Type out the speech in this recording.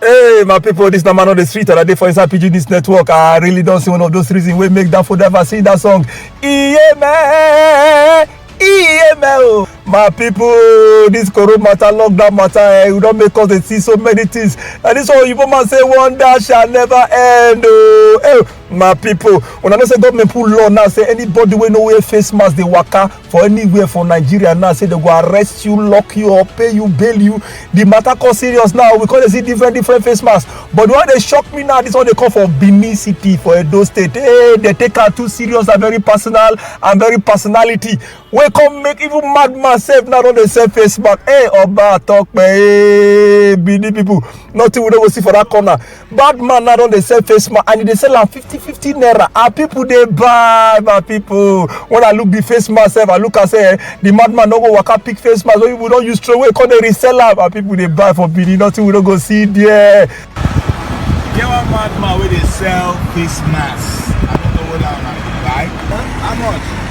Hey, my people, this number on the street, and I did for inside PG News Network. I really don't see one of those reasons we make that for driver sing that song. Yeah, man. Yeah, man. oh. My people, this corona matter, lockdown matter, eh, we don't make us dey see so many things. And this one, you man say one that shall never end. Oh, hey, my people, when I know say government put law now, say anybody wey no wear face mask, they waka. for anywhere for nigeria now say they go arrest you lock you up pay you bail you the matter come serious now we come dey see different different face masks but the one dey shock me now this one dey come for benin city for edo state hey they take am too serious and very personal and very personality wey come make even madman sef now don dey sell face mask hey oba atope hey benin people nothing we no go see for that corner bad man now don dey sell face mask and e dey sell am fifty fifty naira and people dey buy my people when i look the face mask sef i look am say eh, the madman no go waka pick face mask wey people don use throw away come dey resell am and people dey buy for benin nothing we no go see there. E get one madman wey dey sell face mask i no know whether una dey buy how much.